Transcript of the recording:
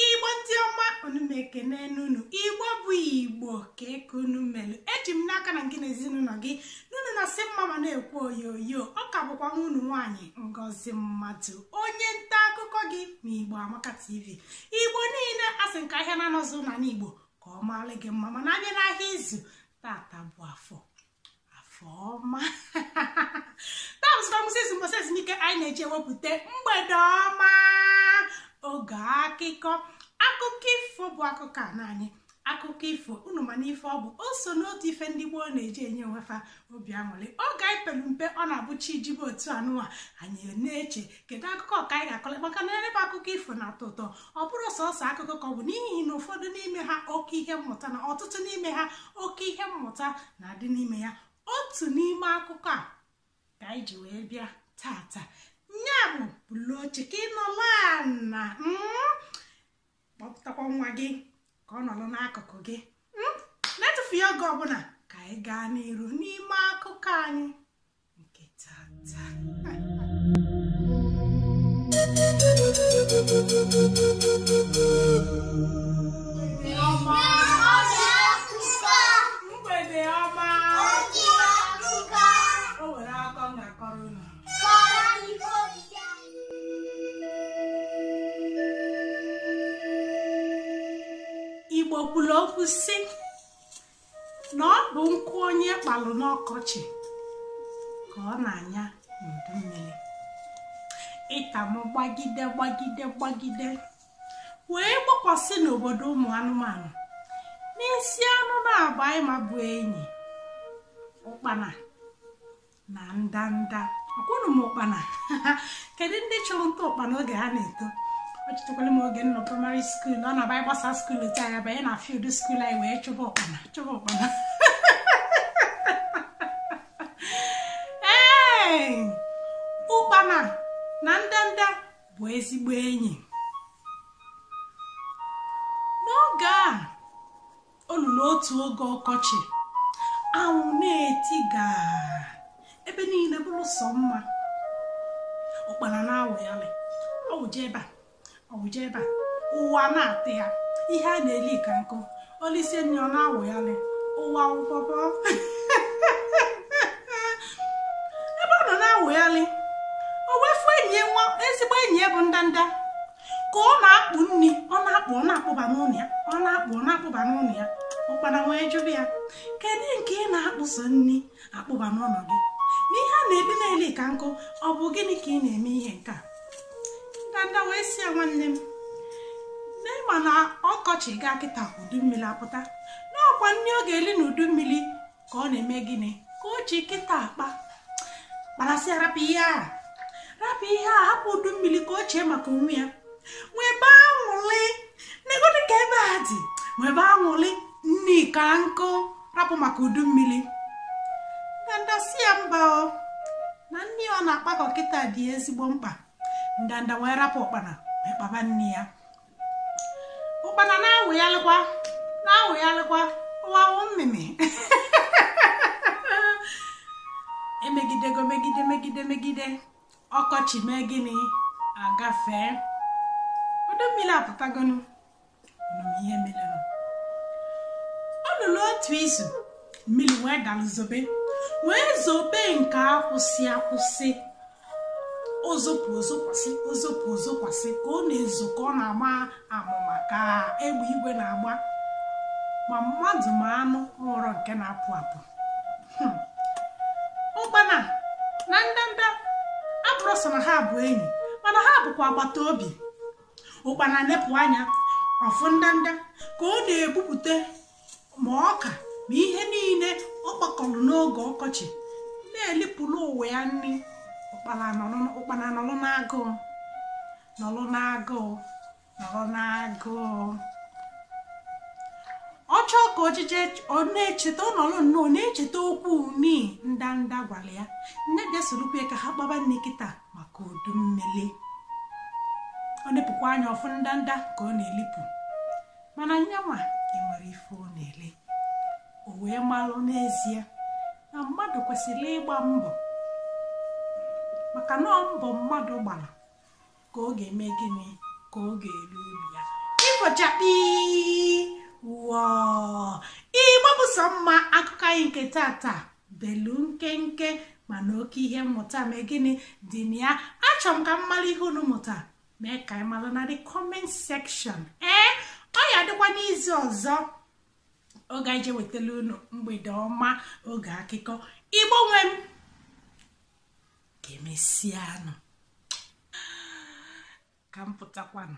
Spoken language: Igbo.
igbo ndị ọma unu m ekene n'unu igbo bụ igbo kee ka unu melu eji m n'aka na ngị na ezinụlọ gị na unu na-asị mma mma na-ekwu oyoyo ọ ka bụkwa nwa unu nwaanyị ngozi mmadụ onye nta akụkọ gị na igbo amaka tv igbo niile asị nke ahịa naanọ zụ n'ana igbo ka ọ maala gị mma mana a bịa n'ahịa izu tata bụ afọ afọ ọma tamstamsis ụbọsị ezumike anyị na-eji ewepụta mgbede ọma oge akụkọ akụkọ ifo bụ akụkọ ana anyị akụkọ ifo unu manụ ife ọ bụ o so n'otu ife ndị gboo na-eji enye onwefa obi aṅụrị oge anyị pelu mpe ọ na-abụ chi jibe otu anụwa anyị na-eche kedu akụkọ ka anyị ga-akọla maka na ebe akụkọ ifo na-atọ ụtọ ọ bụrọ sọsọ akụkọ ka ọ bụ n'ihi na ụfọdụ n'ime ha oke ihe mmụta na ọtụtụ n'ime ha oke ihe mmụta na-adị n'ime ya otu n'ime akụkọ a ka anyị ji wee bịa tata nya bụ bulu oche ka ị nọlụ ana mm, kpọpụtakwa nwa gị ka ọ nọrọ n'akụkụ gị mm, n'etufughị oge ọbụla ka anyị gaa n'iru n'ime akụkọ anyị nke tata mgbede ọma o nwere akụkọ m ga-akọrọ unu igbo kwuru okwu sị na ọ bụ nkụ onye kpalụ n'ọkọchị ka ọ na-anya n'udu mmiri ita mụ gbagide gbagide gbagide wee gbakwasị n'obodo ụmụ anụmanụ n'isi anụ naabọ anyị ma bụ enyi ụkpana na ndanda ekwuru m ụkpana kedu ndị chụrụ nta ụkpana oge ha na-eto o chetakwalụ m oge m nọ praịmarị skuul ọ na-abụ anyị gbasa skuul otu a anyị abanye na field skuul anyị wee chụba ụkpana chụba ụkpana ee ụkpana na ndanda bụ ezigbo enyi n'oge a o lulu otu oge ọkọchị anwụ na-etiga ebe niile bụrụ sọ mma ụkpana na-awụghalị ọ wụje ebe a ọ wụje ebe a ụwa na-atọ ya ihe a na-eli ka nkụ o lisie nni ọ na-awụghalị ụwa ụbọbọ ebe ọ nọ na-awụghalị o wee fụ enyi ya nwa ezigbo enyi ya bụ ndanda ka ọ na-akpụ nri ọ na-akpụ ọ na-akpụba n'ụlọ ya ọ na-akpụ ọ na-akpụba n'ụlọ ya ụkpana wee jụba ya kedu nke ị na-akpụso nri akpụba n'ụlọ gị n'ihe a na-ebi na-eli ka nkụ ọ bụ gịnị ka ị na-eme ihe nke a ndanda wee sị ya nwanne m na ị ma na ọkọchị gaa kịta udu mmiri apụta na ọkwa nri ọ ga-eli na udu mmiri ka ọ na-eme gịnị ka o ji kịta akpa ụkpana sị ya rapụ ihe a rapụ ihe a hapụ udu mmiri ka o chee maka onwe ya nwebe anwụlị negodị ka ebe a dị nwebe anwụlị nri ka nkụ rapụ maka udu mmiri ndanda sị ya mba o na nri ọ na-akpakọ kịta dị ezigbo mkpa ndanda wee rapụ ụkpana wee kpaba nri ya ụkpana na-awụghalịkwa na-awụghalịkwa ụwawụ mmemme emegidego megide megide megide ọkọchị mee gịnị agafee udu mmiri apụtagonu nụrụ ihe mere o luru otu izu mmiri wee dalụ zobe wee zobe nke akwụsị akwụsị o zopụ o zokwasị o zopụ o zokwasị ka ọ na-ezo ka ọ na-agba amụma ka egbe igwe na-agba ma mmadụ ma anụ nwerọ nke na-apụ apụ hmm. ụkpana na ndanda abụrọ sọ na ha bụ enyi mana ha bụkwa agbata obi ụkpana nepụ anya ọ fụ ndanda ka ọ na-ebupụta ma ọka ma ihe niile ọ kpakọrọ n'oge ọkọchị na-elipụrụ onwe ya nri ụkpana nọrọ n'agụụ nọrọ n'agụụ nọrọ n'agụụ ọ chọọ ka ojije ọ na-echeta ọ nọrọ nnọọ na-echeta okwu nii ndanda gwara ya nne bịa sorokwa ya ka ha kpaba nri kịta maka udu mmiri o nepụkwa anya ọ fụ ndanda ka ọ na-elipụ mana nyanwa enwerọ ife ọ na-eli o wee malụ n'ezie na mmadụ kwesịrị ịgba mbọ maka na ọ mbọ mmadụ gbara ka ọ ga-eme gịnị ka ọ ga-eli uru ya ifo chakpii wọọ igbo bụ sọ mma akụkọ anyị nke tata belu nkenke mana oke ihe mmụta mee gịnị dị na ya achọrọ m ka m mara ihe unu mụta mee ka anyị malụ na the comment section ee ọ ya-adịkwa n'izu ọzọ oge anyị je wetala unu mgbede ọma oge akụkọ igbo nwe m ka emesịanụ ka m pụtakwanụ